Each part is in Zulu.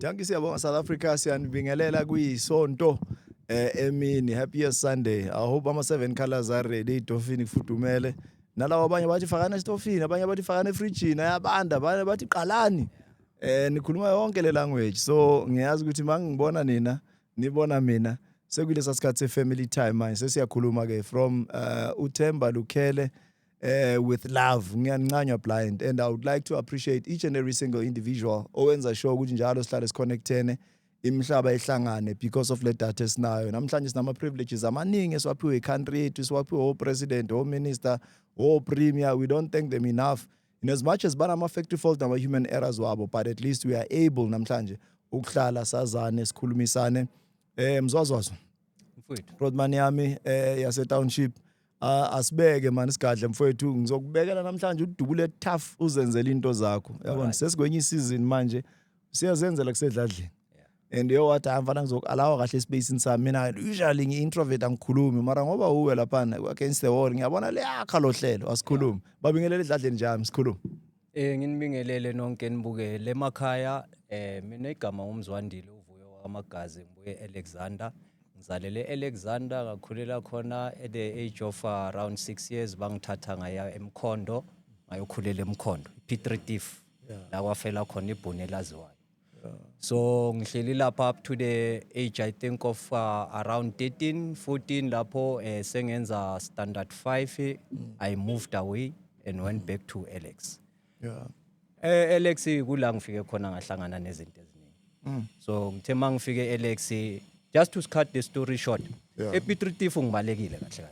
Dankie siyabonga South Africa siyanibingelela kuyisonto eh emini happy Sunday i hope ama seven colors are ready idofini kufudumele nalawa abanye bathi fakana estofini abanye bathi fakana efrijini ayabanda abanye bathi qalani eh nikhuluma yonke le language so ngiyazi ukuthi mangibona nina nibona mina sekulesa sikhathi se family time manje sesiyakhuluma ke from uh, uThemba Lukhele uh, with love ngiyancanywa blind and i would like to appreciate each and every single individual owenza sure ukuthi njalo sihlale siconnectene imihlaba ihlangane because of le data esinayo namhlanje sinama-privileges amaningi esiwaphiwe i-country yethu siwaphiwe o-president o-minister o-premier we don't thank them enough in as much as banama-factory fault nama-human errors wabo but at least we are able namhlanje ukuhlala sazane sikhulumisane um mzwazwazwa rodman yami um yase-township Ah, asibeke mani sigadle mfowethu ngizokubekela namhlanje udubule tough uzenzele into zakho yabona sesikwenye isizini manje siyazenzela kusedladleni and yo wathi hayi mfana ngizokalawa kahle esipacini sami mina usually ngi-introvert angikhulumi mara ngoba uwe laphana against the wall ngiyabona liyakha lo hlelo asikhulumi babingelela edladleni njami sikhulumi Eh nginibingelele nonke nibukele emakhaya eh mina igama ngumzwandile uvuyo wamagazi ngibuye Alexander ngizalele Alexander ngakhulela khona at the age of uh, around 6 years bangithatha ngaya emkhondo ngayokhulela emkhondo P3 Tiff la kwafela khona ibhuni elaziwayo So ngihleli lapha up to the age I think of uh, around 13, 14 lapho eh, sengenza standard 5 I moved away and went back to Alex. Yeah. Eh Alex kula ngifike khona ngahlangana nezinto eziningi. So ngithe mangifike Alex just to cut the story short. Yeah. Epitritifu ngibalekile kahle kahle.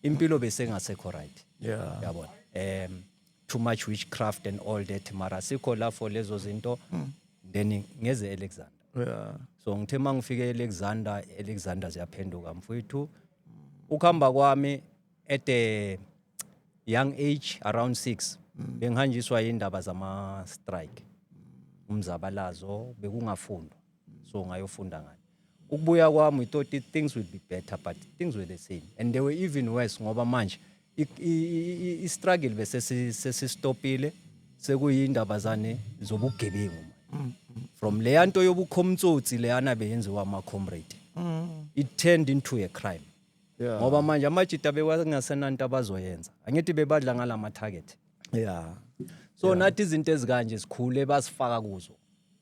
Impilo besengasekho right. Yeah. Yabona. Em too much witchcraft and all that mara sikho la for lezo zinto mm. then ngeze Alexander yeah so ngithe mangifike Alexander Alexander ziyaphenduka mfowethu ukuhamba kwami at the young age around 6 mm. bengihanjiswa indaba zama strike umzabalazo bekungafundwa so ngayofunda ngani ukubuya kwami we thought it, things will be better but things were the same and they were even worse ngoba manje i-struggle bese sesistopile sekuyindaba zane zobugebengu from leya nto yobukhomtsotsi leyana beyenziwa ama-comrade it turned into a crime yeah. ngoba manje amajita bewasengasenanto abazoyenza angithi bebadla ngala ma-target yeah. so yeah. nathi izinto ezikanje sikhule basifaka kuzo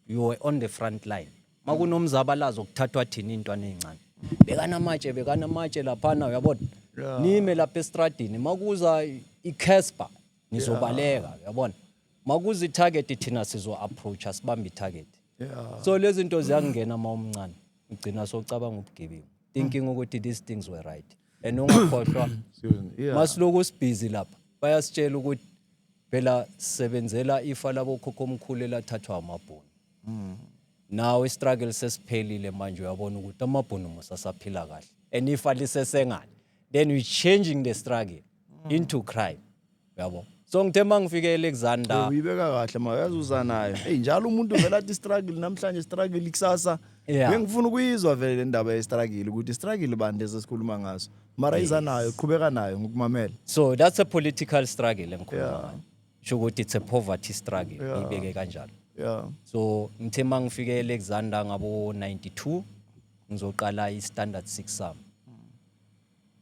you were on the front line uma kunomzabalazo kuthathwa thina iy'ntwana ey'ncane bekanamatshe bekanamatshe laphana uyabona yeah. nime lapha estradini uma kuza i-casper nizobaleka yeah. uyabona uma kuza i-target thina sizo-approacha sibambe i-target yeah. so lezi zinto ziyakungena uma umncane ugcina socabanga ubugebengu thinking ukuthi these things were right and ungakhohlwa Excuse me. Yeah. masiloku sibhizi lapha bayasitshela ukuthi phela sisebenzela ifa labokhokho omkhulu elathathwa amabhunu nawe istruggle sesiphelile manje uyabona ukuthi amabhunu musasaphila kahle and ifa lisesengane then we changing the struggle into crime yabo so ngithe uma ngifike elexander uyibeka kahle ma uyazi uza nayo eyi njalo umuntu vele athi struggle namhlanje struggle ikusasa Yeah. bengifuna ukuyizwa vele le ndaba yestruggle ukuthi struggle bani lezi esikhuluma ngaso mara iza nayo qhubeka nayo ngokumamela so that's a political struggle engikhuluma Yeah. ngayo sho ukuthi it's a poverty struggle Yeah. ngiyibeke kanjalo ya so ngithe uma ngifike elexander ngabo-92 ngizoqala i-standard six sami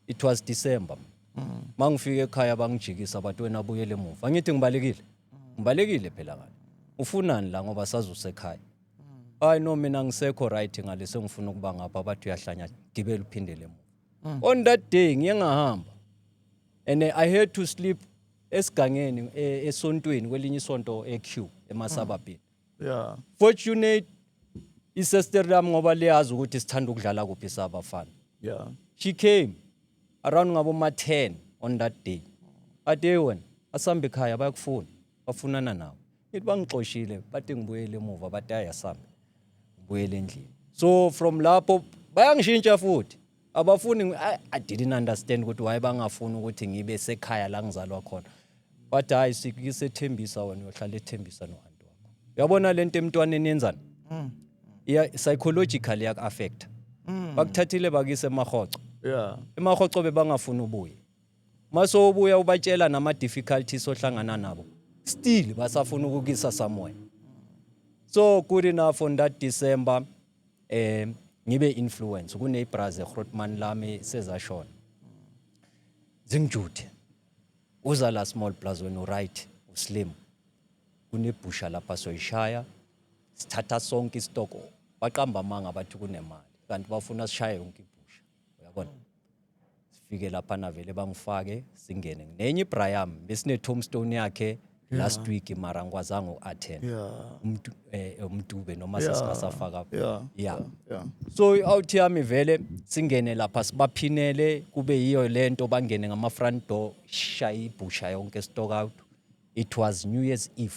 it was december uma ngifika ekhaya bangijikisa bathi wena buyele emuva angithi ngibalekile ngibalekile phela ngani ufunani la ngoba sazusekhaya hayi no mina ngisekho right ngale sengifuna ukuba ngapha bathi uyahlanya gibela uphindele emuva on that day ngiye ngahamba and eh, i had to sleep esigangeni eh, esontweni kwelinye isonto eq emasababhini yeah fortunate isister lami ngoba liyazi ukuthi sithanda ukudlala kuphi sabafana yeah she came around ngabo ma 10 on that day ade wena asambe ekhaya bayakufuna bafunana nawe ithi bangixoshile bathi ngibuyele emuva bathi ayasambe ngibuyele endlini so from lapho bayangishintsha futhi abafuni ngi- I, i didn't understand ukuthi why bangafuni ukuthi ngibe sekhaya la ngizalwa khona wathi hayi sikisethembisa wena uyohlala ethembisa nohanti wakho uyabona le nto emntwaneni yenzani iya psychological yaku-affecta bakuthathile bakise emahoco Yeah. emahoco bebangafuni ubuye uma sowubuya ubatshela nama-difficulties ohlangana nabo still basafuna ukukisa somewhere so good enough on that december eh ngibe influence kunebras eGrootman lami sezashona zingijuthe uza la small plus wena uright uslim kunebhusha lapha soyishaya sithatha sonke istock baqamba amanga bathi kunemali kanti bafuna sishaye yonke uyabona sifike lapha navele bangifake singene nenye ibra yami besine tombstone yakhe last week mara ngikwazanga uku-attend Yeah. Umdu- eh, umdube noma Yeah. sesingasafaka Yeah. yeah Yeah. so i-out yami vele singene lapha sibaphinele kube yiyo le nto bangene ngama-front door shaye ibhusha yonke stock out it was new year's eve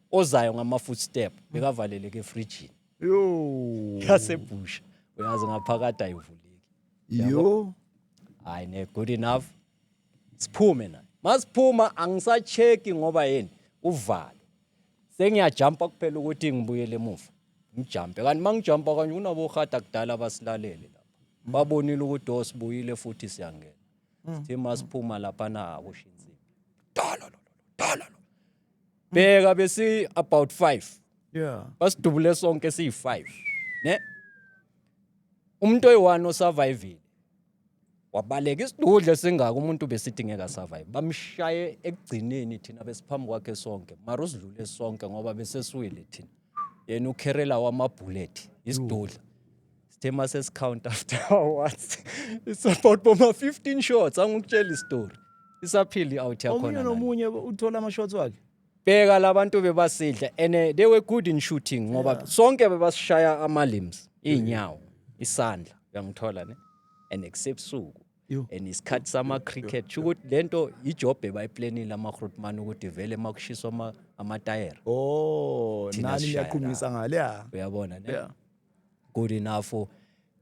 ozayo ngama-footstep bekavaleleke efrijini yasebhusha uyazi ngaphakathi ayivuleki yo hayi ne good enough siphume naye masiphuma angisacheki ngoba yini uvalo sengiyajampa kuphela ukuthi ngibuyele emuva ngijampe kanti uma ngijampa kanje kunabohada kudala abasilalele lapha babonile ukuthi osibuyile oh, futhi siyangena sithe masiphuma laphana akusho insimbi dala lo dala lo bheka besi about 5 yeah basidubule sonke siyi 5 ne umuntu oyiwani osurvivile wabaleka isidudla esingaka umuntu besidingeka survive bamshaye ekugcineni thina besiphambi kwakhe sonke mara usidlule sonke ngoba besesiwile thina yena ukherela wamabhullet isidudla sithe uma sesikhawunta after awards it's about boma-15 shots angikutshela isitori isaphile i-out yakhona omunye nani. nomunye uthola ama-shots wakhe bheka labantu bebasidla and eh, they were good in shooting ngoba sonke bebasishaya ama-limbs iy'nyawo isandla uyangithola ne and except suku and isikhathi sama-cricket sho ukuthi le nto ijobhe bayiplenile ama-grootman ukuthi vele uma kushiswa amatayera oh nani niyaqhumisa ngale ya uyabona ne good enough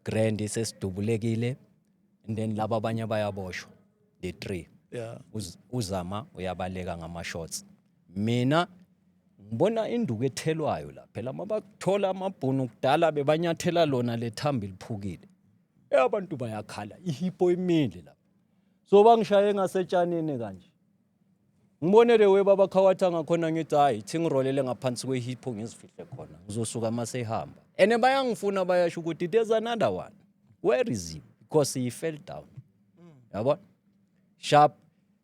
grand sesidubulekile and then laba abanye bayaboshwa the three yeah uzama uyabaleka ngama-shots mina ngibona induku ethelwayo la phela mabakuthola amabhunu kudala bebanyathela lona lethamba liphukile Eh abantu bayakhala ihipo imile lapha. So bangishaye ngasetshanini kanje. Ngibonele we baba khawatha ngakhona ngithi hayi thi ngirolele ngaphansi kwehipo ngizifihle khona. Ngizosuka mase ihamba. And bayangifuna bayasho ukuthi there's another one. Where is he? Because he fell down. Yabona? Sharp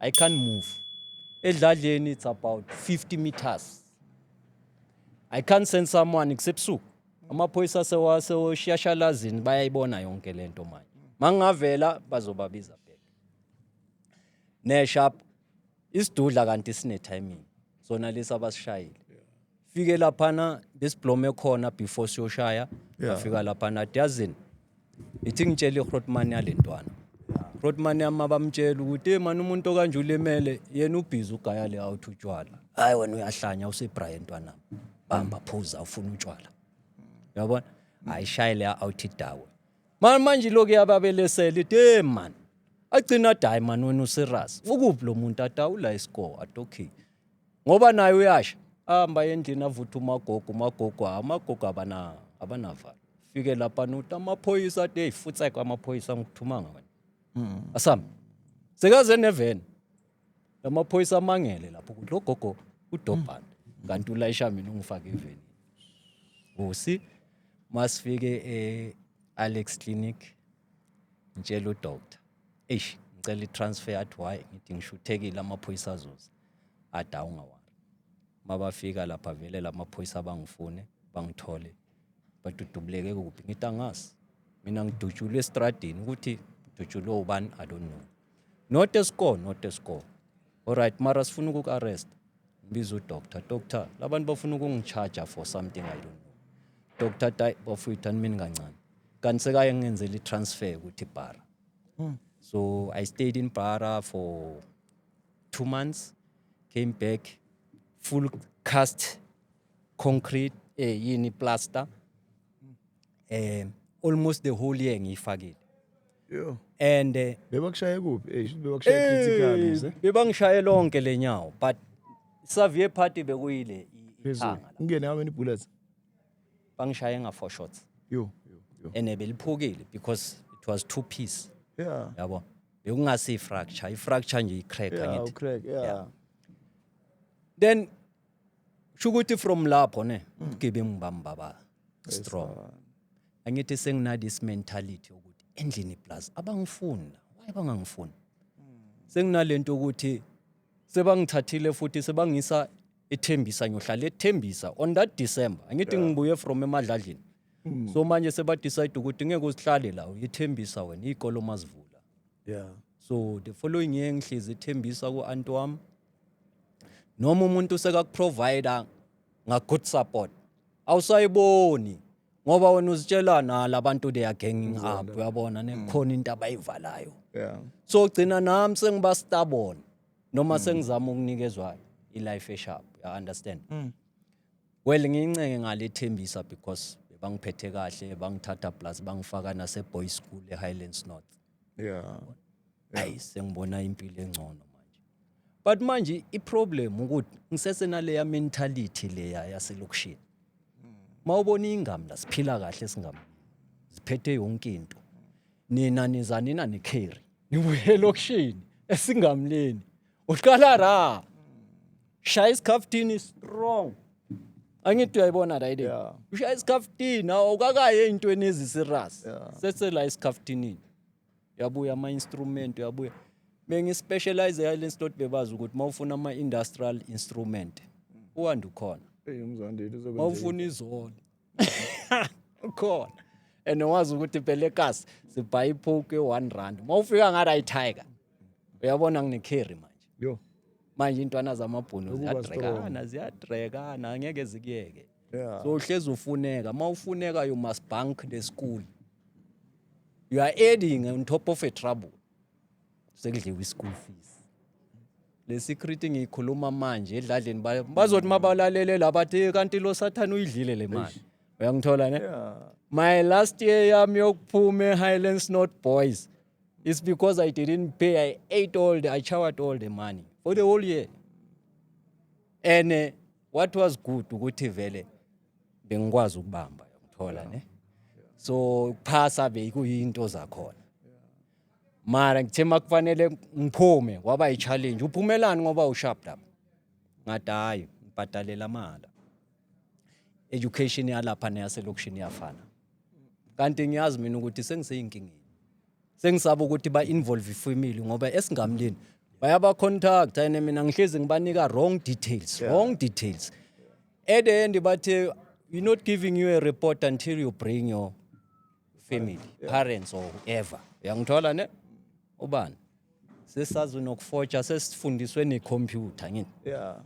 I can't move. Edladleni it's about 50 meters. I can't send someone kusebusuku. Amaphoyisa sewashiyashalazini bayayibona yonke lento manje. Mangavela bazobabiza back. Nesharp isidudla kanti sine timing. Sona lesa basishayile. fike laphana besiblome khona before siyoshaya Yeah. ngafika laphana diyazini ithi ngitshele ihrotman yalentwana hrotman yami abamtshela ukuthi mani umuntu okanje ulimele yena ubhizi ugaya le out utshwala hayi wena uyahlanya usebraya entwana bamba phuza ufuna utshwala yabona ayishaye le out idawe mani manje lokhu yababelesela ithi hey mani agcina dayi mani wena userious ukuphi lo muntu adawula iscore adokhiye ngoba naye uyasha ahamba endlini avutha umagogo umagogo hayi umagogo abana abanavalo fike lapha nuti amaphoyisa athi hey futseka amaphoyisa ngikuthumanga wena hmm. asami sekaze neveni lamaphoyisa amangele lapho ukuthi lo gogo udobhana hmm. kanti ulayisha mina ungifake eveni usi masifike e-alex clinic ngitshela udoctor eish ngicela i-transfer athi why ngithi ngishuthekile amaphoyisa azoza athi awungawari uma bafika lapha vele la maphoyisa bangifune bangithole bathi udubuleke kuphi ngithi angazi mina ngidutshulwe estradini ukuthi ngidutshulwe ubani i don't know not a score not a score alright mara sifuna ukuk arrest ngibiza udoctor doctor labantu bafuna ukungicharger for something i don't know doctor tay bafuyitha mina kancane kanti sekaye ngenzela i-transfer ukuthi bara hmm. so i stayed in bara for two months came back full cast concrete eh yini plaster eh almost the whole year ngiyifakile Yo. and eh, Bebakushaye kuphi? Eh, shuthi bebakushaye critical eh, mse. bebangishaye lonke lenyawo but savie party bekuyile i- Phezulu. ithanga la. Ungene how many bullets? bangishaye nga four shots Yo, yo, yo. and eh, beliphukile because it was two piece Yeah. yabo bekungasi i-fracture i-fracture nje i-crack Yeah, angithi ucrack. Yeah. Yeah. then shukuthi from lapho ne ubugebengu bami baba strong angithi sengina this mentality ukuthi endlini plus abangifuni la why bangangifuni senginalento ukuthi sebangithathile futhi sebangisa ethembisa ngiyohlala ethembisa on that december angithi ngibuye from emadladlini hmm. so manje sebadecide ukuthi ngeke usihlale la uyethembisa wena iy'kolo mazivula yeah so the following year ngihlezi ethembisa ku-anti wami noma umuntu sekakuprovida nga-good support awusayiboni ngoba wena uzitshela na labantu they are ganging up uyabona ne mm. khona into abayivalayo yeah so gcina nami sengiba stubborn noma mm. sengizama ukunikezwa i life esharp you understand mm. well ngiyincenge ngalethembisa because bangiphethe kahle bangithatha plus bangifaka nase boys school e Highlands North yeah ayi sengibona impilo engcono manje but manje iproblem ukuthi ngisesenaleya mentality leya yaselokishini mawubona ingam la siphila kahle singam siphethe yonke into nina nizanina nicarry nibuye elokishini esingamleni uqala ra shaya isikhaftini strong angithi uyayibona right yeah. ushaya isikhaftini awukakaye ey'ntweni ezisirasi yeah. sesela isikhafthinini uyabuya ama-instrument uyabuya bengispecialize yale slot bebazi ukuthi uma ufuna ama-industrial instrument uwande ukhona mawufuna izona ukhona and wazi ukuthi pelekas sibhaye iphoki one rand uma ufika ngathi ayitiger uyabona nginecarry manje yo manje intwana zamabhunu ziyadrekana ziyadrekana angeke zikuyeke yeah. so uhlezi ufuneka uma ufuneka you must bank the school you are adding on top of a trouble sekudliwa i-school fees le secret ngiyikhuluma manje edladleni ba- bazothi mabalalele la bathi "Eh, kanti lo sathane uyidlile le mali uyangithola ne my last year yami yokuphuma e-highlands not boys it's because i didn't pay i ate all the i showered all the money for the whole year and eh, what was good ukuthi vele bengikwazi ukubamba uyangithola ne so ukuphasa bekuyinto zakhona mara ngithe makufanele ngiphume kwaba i-challenge uphumelani ngoba usharp lapha ngathi hhayi ngibhadalela amala education yalapha neyaselokishini iyafana kanti ngiyazi mina ukuthi sengiseyinkingeni sengisaba ukuthi ba-involve ifamily ngoba esingamlini bayabacontacta and mina ngihlezi ngibanika wrong details wrong details at the end bathe we're not giving you a report until you bring your family parents or whoever uyangithola ne ubani sesazi nokufotsha sesifundiswe necomputer ngini yeah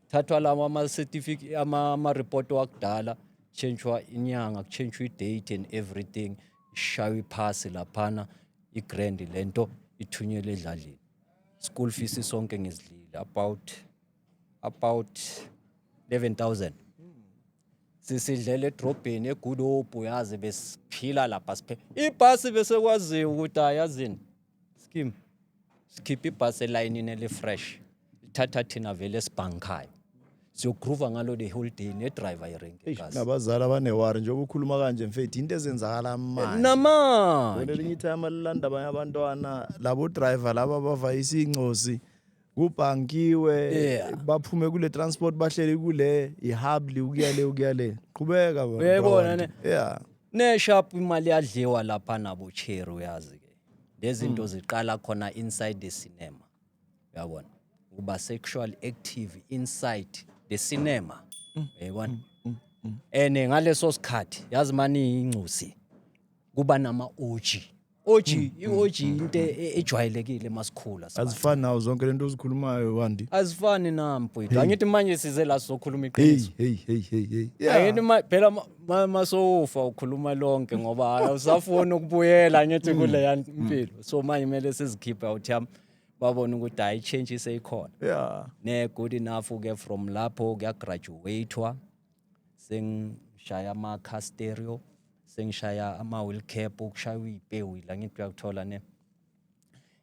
thathwa lawo ama-certificate ama- ama-report wakudala kuchentshwa inyanga kuchentshwa i-date and everything ishaywa iphasi laphana i-grand le nto ithunyelwe edladleni school fees sonke ngizidlile about about 11000 sisidlela edrobheni egudobhu yazi besiphila lapha siphe ibhasi bese kwaziwa ukuthi ayazini skim sikhipha ibhasi elayinini elifresh lithatha thina vele esibhankhayo siyogroova ngalo the whole day nedriver irenke Eish, nabazali abanewari njengoba ukhuluma kanje mfethu into ezenzakala manje namanje Bona elinye itime alilanda abanye abantwana labo driver laba bavayisa incosi kubhankiwe Yeah. baphume kule transport bahlele kule ihubli ukuya le ukuya le qhubeka baba, Uyayibona baba. ne? yeah Neshap imali yadliwa lapha nabo cherry uyazi ke. Lezinto Hmm. ziqala khona inside the cinema. Uyabona? Uba sexual active inside the cinema. Hmm. Uyayibona? Ene ngaleso sikhathi yazi mani ingcusi kuba nama oji. OG, i-OG into e- e- ejwayelekile masikhula. sibantu. azifani nawo zonke lento ozikhulumayo wandi Azifani na mfowethu. Angithi manje size la sokhuluma hey iqiniso. hey hey hey hey Yeah. Angithi ma- phela ma- ma- masofa ukhuluma lonke ngoba hayi awusafuni ukubuyela angithi Mm. kule ya mpilo. So manje kumele sizikhiphe out yam babone ukuthi hayi change iseyikhona. yeah ne good enough ke from lapho kuyagraduatwa sengishaya ama-car stereo sengishaya ama-wheel cap okushaywa iy'pewu la ngithi uyakuthola ne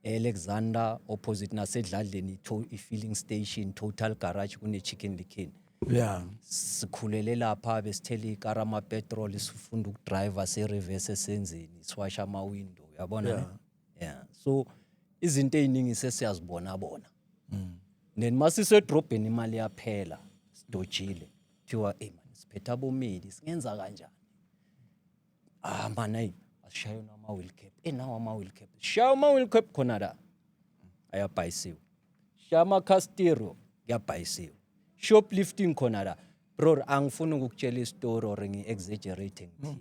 e-alexander opposite nasedladleni to- i-filling station total garage kune-chicken likin ya sikhulele lapha besithela ikara amapetrol sifunda ukudriver se-reverse esenzeni siwasha ama-window yabona ne? yeah so izinto eziningi sesiyazibona bona mm. then masise drobheni imali yaphela sidojile kuthiwa hey man siphetha bomili singenza kanjani ah man ayi asishaye nama wheel cap eh nawo ama wheel cap shaya ama wheel cap khona la ayabhayisiwe shaya ama castero kuyabhayisiwe shoplifting khona la bro angifuni ukukutshela istory or ngi exaggerating mm.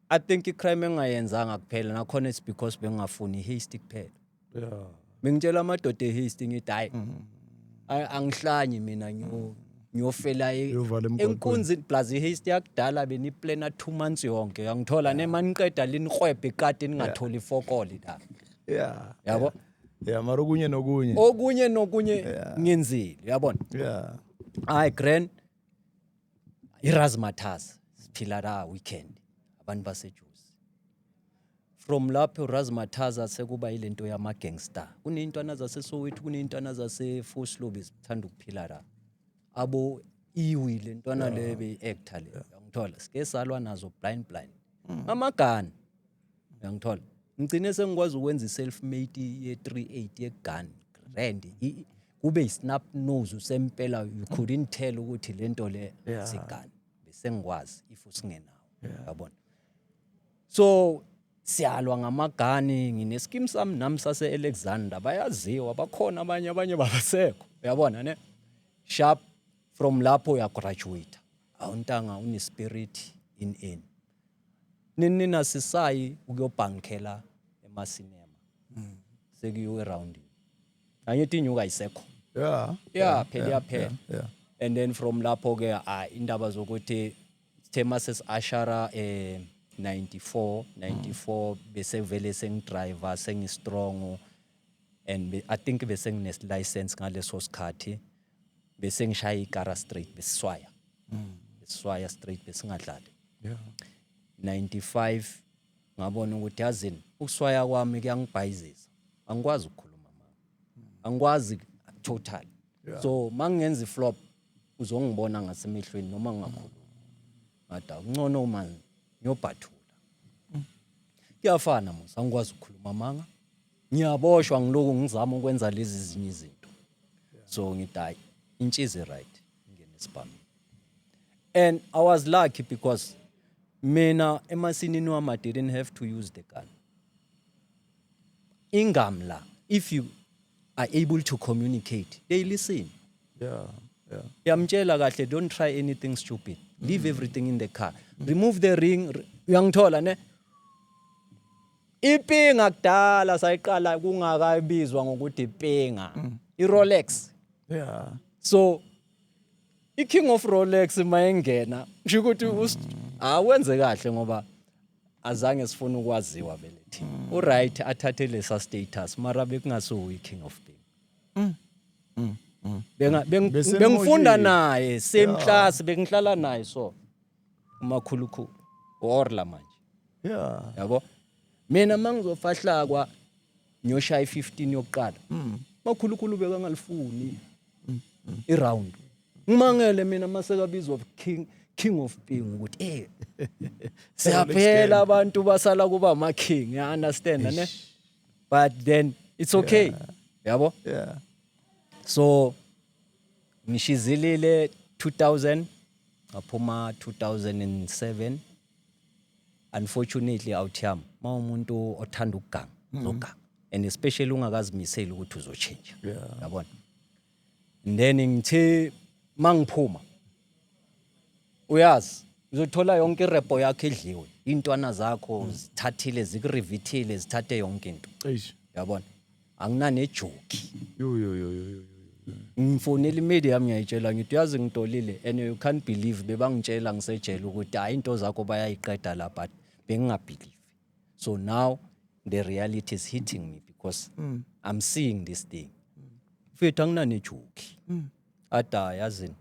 I think icrime engayenzanga kuphela nakhona it's because bengafuni hasty kuphela. Yeah. Bengitshela amadoda ehasty ngithi hayi. Mm-hmm. Ay angihlanyi mina ngiyo ngiyofela e- Uyovala emgwaqweni. enkunzini plus ihasty yakudala beniplana 2 months yonke. Yangithola nemaniqeda linikwebhe ikati ningatholi fokoli la. Yeah. Yabo? Yeah, mara okunye nokunye. Okunye nokunye ngenzile, yabona? Yeah. Hayi grand iRazzmatazz siphila la weekend abantu basejuzi from lapho uRazzmatazz sekuba ilento yama gangster kuneyintwana zaseSoweto kuneyintwana zaseFoslobes zithanda ukuphila la abo iwi lentwana lebe actor le ngithola sike salwa nazo blind blind mm. amagana uyangithola ngigcine sengikwazi ukwenza i-self made ye-380 yegun grand kube i-snap nose usempela you couldn't tell ukuthi le nto le sigun besengikwazi if usingenawo yabona so siyalwa ngamagani ngineskim sami nami sase-alexander bayaziwa bakhona abanye abanye babasekho uyabona ne sharp from lapho uyagraduate awuntanga unespirit in in Nini nina sisayi ukuyobhankela emasinema. Mm. Sekuyiwe round. Angithi inyuka ayisekho. Yeah. Yeah, phela iyaphela. Yeah. And then from lapho ke ah indaba zokuthi sithema sesiashara eh 94 94 bese vele sengidriver sengistrong and be, I think bese ngine license ngaleso sikhathi bese ngishaya ikara straight besiswaya mm. besiswaya straight besingadlali yeah 95 ngabona ukuthi yazini ukuswaya kwami kuyangibhayizisa angikwazi ukukhuluma mama angikwazi total yeah. so mangenza iflop uzongibona ngasemehlweni noma ngingakhuluma ngada uncono uma ngiyobhathula mm. kuyafana musa angikwazi ukukhuluma manga ngiyaboshwa ngiloku ngizama ukwenza lezi zinye izinto so ngithi hayi intshizi right ngene esibhamini and i was lucky because mina emasinini wami i didn't have to use the gun ingamla if you are able to communicate they listen yeah yeah yamtshela kahle don't try anything stupid leave everything in the car remove the ring uyangithola ne Ipinga kudala sayiqala kungakabizwa ngokuthi ipinga. Mm. I-Rolex. Yeah. So i-King of Rolex mayengena kusho ukuthi awenze kahle ngoba azange sifune ukwaziwa vele thina. Mm. Uright athathe lesa status mara bekungasuwe i-King of Pink. Mm. Mm. Benga bengifunda naye same class bengihlala naye so. umakhulukhulu orla manje yeah yabo mina mangizofahlakwa ngiyoshaya i15 yokuqala mm. makhulukhulu bekangalifuni mm, mm. iround ngimangele mina masekabizwa of king king of being ukuthi eh siyaphela abantu basala kuba ama king i understand ne but then it's okay yabo yeah so Ngishizilile 2000 ngaphuma 2007 unfortunately awuthiyam mawumuntu othanda ukuganga uzoganga mm. and especially ungakazimiseli ukuthi uzotshintsha yabona then ngithe mangiphuma uyazi uzothola yonke irepo yakho idliwe iy'ntwana zakho hmm. zithathile zikurivithile zithathe yonke into yabona anginanejoki ngifonela imedia yami ngiyayitshela ngithi uyazi ngitolile and you can't believe bebangitshela ngisejele ukuthi hhayi into zakho bayayiqeda la but bengingabhilivi so now the reality is hitting me because mm. i'm seeing this thing mfethu anginanejoki mm. Ada yazini.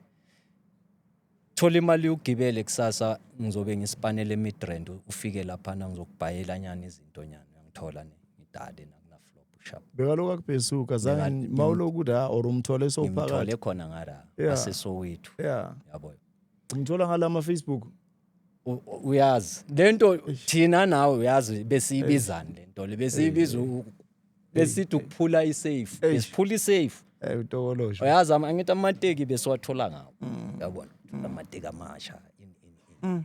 Thola imali ugibele kusasa ngizobe ngisipanele midrand ufike lapha na ngizokubhayela nyana izinto nyana uyangithola ne ngidade na kuna flop sharp. Bekaloku akubhesuka Beka- zange mawuloku la or umthole Ngimthole sowuphakathi. khona ngara Yeah. asesowethu. Yeah. Yabo. Umthola ngalama Facebook. uyazi lento thina nawe uyazi besiyibizani lento le besiyibiza besithi ukuphula isafe besiphula isafe eh utokoloshi uyazi angithi amateki besiwathola ngawo mm. yabona amateki amasha mm.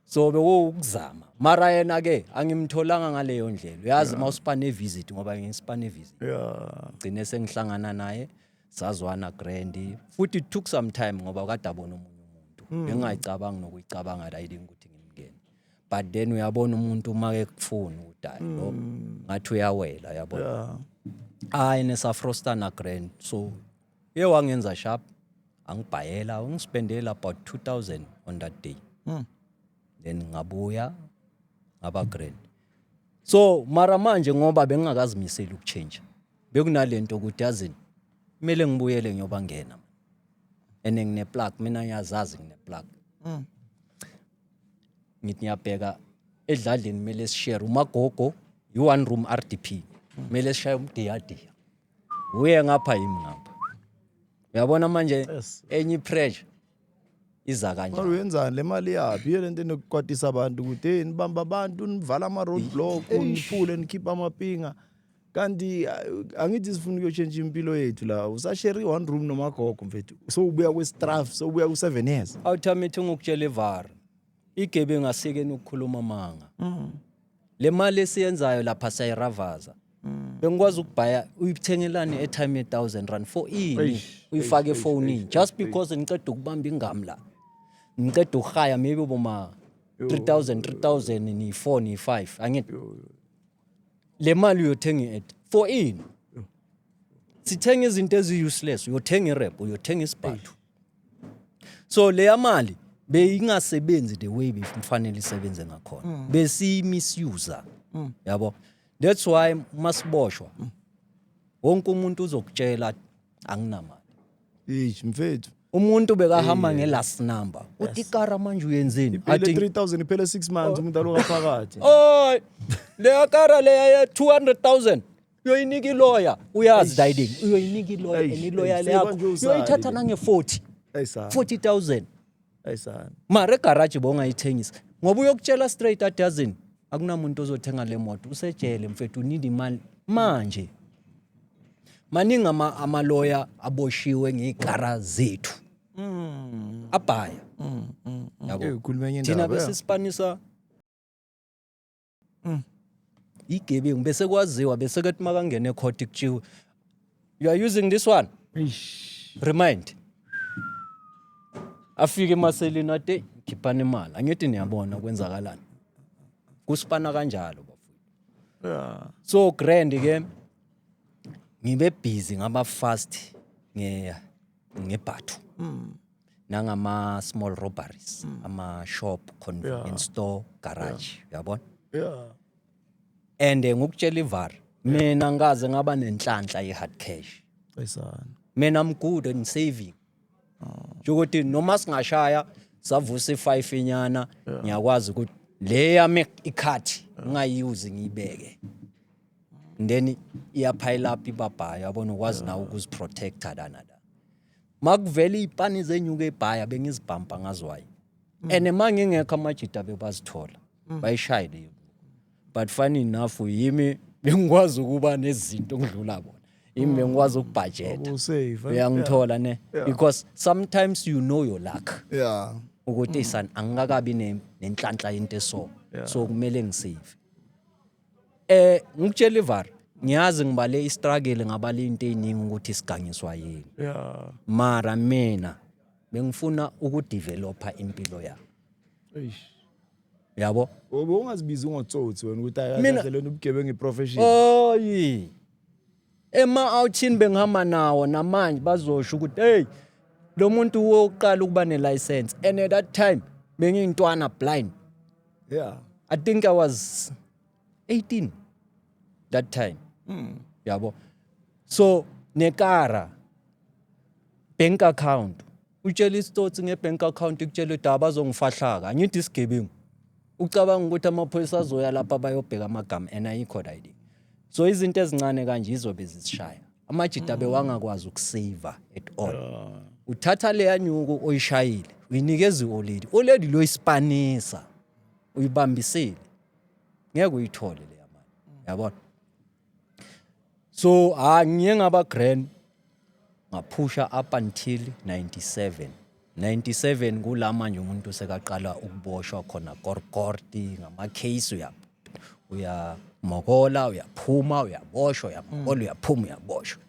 so bewukuzama mara yena ke angimtholanga ngaleyo ndlela uyazi uma usipane visit ngoba ngisipane visit yeah gcine sengihlangana naye sazwana grandi futhi it took some time ngoba kade abona omunye umuntu hmm. bengingayicabangi nokuyicabanga la yini ukuthi ngimngene but then uyabona umuntu uma ekufuna udala lo hmm. ngathi uyawela yabona hayi nesafrostana grand so ye wangenza sharp angibhayela ungispendela about 2000 on that day hmm. then ngabuya ngaba grand so mara manje ngoba bengingakazimiseli ukuchange bekunalento ukuthi yazini kumele ngibuyele ngiyobangena and ngine plug mina ngiyazazi ngine plug mm. ngithi ngiyabheka edladleni kumele sishare umagogo yi one room RDP kumele mm. sishaye umdiyadiya uye ngapha yimi ngapha uyabona manje enye pressure iza kanjani kodwa uyenzani le mali yaphi iyo lento enokukwatisa abantu ukuthi hey nibamba abantu nivala ama road block niphule nikhipha amapinga kanti uh, angithi sifuna ukuyotshentsha impilo yethu la usasheri one room nomagogo mfethu sowubuya kwestraf sowubuya ku-seven years awuthamithi ngokutshela ivara igebe ngasikeni ukukhuluma amanga mm. le mali esiyenzayo lapha sayiravaza mm. bengikwazi ukubhaya uyithengelani etime ye-thousand rand for ini uyifake efonini just because ngiceda ukubamba ingam la ngiceda ukuhaya maybe boma 3000 3000 niyi-four niyi-five angithi le mali uyothenga i-ad for ini sithenga izinto ezi-useless uyothenga irep uyothenga isibhathu so leya mali beyingasebenzi the way bekufanele isebenze ngakhona mm. besiyimisuser mm. yabo that's why masiboshwa mm. wonke umuntu uzokutshela anginamali Eish mfethu. umuntu bekahamba nge-last number uthi ikara manje uyenzeni Phela Athi- 3000 iphele 6 months umuntu aloka phakathi. oy leya kara leya ya 200000 uyoyinika iloya uyazi diding uyoyinika iloya Eish, and iloya eish, leyakho seyibanje usali uyoyithatha le. nange-40 Ayisa. 40000 ayisana mara egaraji bowungayithengisa ngoba uyokutshela straight a dozen akunamuntu ozothenga le moto usejele mfethu need imali manje maningi ama- amaloya aboshiwe ngey'kara zethu Mm, abhaya mm, mm, mm. Yabo. Eyi, ukhuluma enye thina indaba, bese yeah. sipanisa Mm. Igebengu bese kwaziwa bese kethi makangena ecourt kutshiwe you are using this one. Eish. Remind. Afike emaseleni ate khiphana imali. Angithi niyabona kwenzakalani. Kusipana kanjalo bafo. Yeah. so grand ke ngibe busy ngaba fast nge ngebhathu mm. nangama small robberies mm. ama shop convenience yeah. store garage uyabona yeah. yeah. and eh, ngokutshela ivar mina ngaze ngaba nenhlanhla ye hard cash esana mina i'm good in saving oh. ukuthi noma singashaya savusa i5 inyana ngiyakwazi ukuthi le yami ikhathi ngingayiyuzi ngiyibeke and then iyaphayela up ibabhayo yabona ukwazi nawe ukuziprotecta lana la makuvela iy'pani zenyuka ebhaya bengizibhampa ngazwayo mm. and ma ngingekho amajita bebazithola mm. bayishaye leyo but funny enough yimi bengikwazi ukuba nezinto ngidlula bona yimi bengikwazi mm. ukubhajeta eh? uyangithola ne because sometimes you know your luck yeah ukuthi mm. isani angikakabi nenhlanhla into eso so kumele ngisave Eh ngikutshela ivar ngiyazi ngibale istruggle ngabala into eziningi ukuthi sigangiswa yini. Yeah. Mara mina bengifuna ukudeveloper impilo yami. Eish. Yabo? Ubungazibizi ngotsotsi wena ukuthi Mina- akahle lona ubugebengu iprofession. Oyi. Ema-outhini bengihamba nawo namanje bazosho ukuthi hey lo muntu wokuqala ukuba ne-license and at that time bengiyintwana blind yeah i think i was 18 that time mm. yabo so nekara bank account Utshela isitsotsi ngebank account ikutshela ukuthi abazongifahlaka. Angithi isigebengu. Ucabanga ukuthi amaphoyisa azoya lapha bayobheka amagama and ayikho right. So izinto ezincane kanje izobe zisishaya. Amajita bewangakwazi ukusave at all. Uthatha leya nyuku oyishayile, uyinikeza ioledi. Oledi lo isipanisa. Uyibambisile. Ngeke uyithole leya mali. Yabona? so ha ngiye ngaba grand ngaphusha up until 97 97 kula manje umuntu sekaqala ukuboshwa khona korkorti ngama-case uya uyamokola uyaphuma uyaboshwa uyamokola uyaphuma uyaboshwa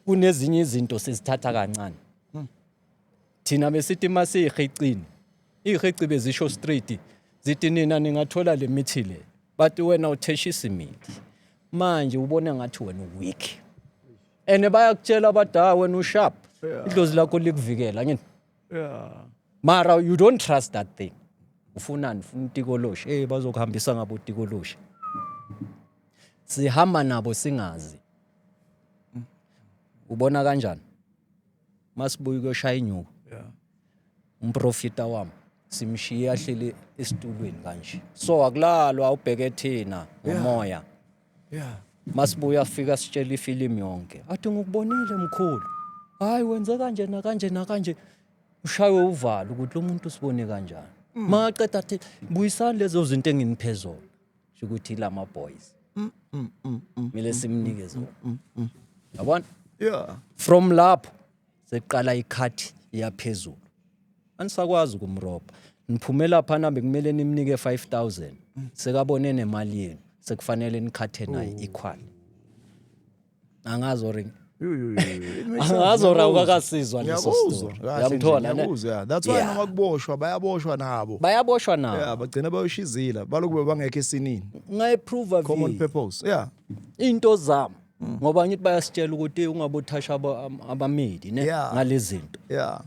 kunezinye izinto sizithatha kancane thina besithi uma siyihicini iyihici bezisho straight zithi nina ningathola le mithi le but wena utheshisa imithi manje ubona ngathi wena uweak and bayakutshela abadala wena usharp idlozi lakho likuvikela ngini yeah mara you don't trust that thing ufunani ufuna utikoloshi hey bazokuhambisa ngabo utikoloshi sihamba nabo singazi ubona kanjani masibuya ukuyoshaya inyuku yeah. umprofita wami simshiye ahleli esitulweni kanje so akulalwa ubheke thina ngomoya yeah masibuya afika sitshela ifilimu yonke athi ngikubonile mkhulu hayi wenze kanje nakanje nakanje ushaywe uvalo ukuthi lo muntu usibone kanjani mm. maqeda athi buyisani lezo zinto enginiphezolo sho ukuthi ila ma boys mm, mm, mm, mm, kumele mm, simnike mm, zona mm, mm. yabona yeah from lapho seqala ikhathi iyaphezulu anisakwazi ukumrobha niphumela phana bekumele nimnike 5000 sekabone nemali yenu sekufanele nikhathe naye ikhwani angazi or angazi or awukakasizwa leso story uyamthola ne that's why noma kuboshwa bayaboshwa nabo bayaboshwa nabo yeah bagcina bayoshizila balokube bangekho esinini ngayi prove common purpose yeah into zami mm. ngoba ngithi bayasitshela ukuthi ungabothasha abamedi ne ngalezinto yeah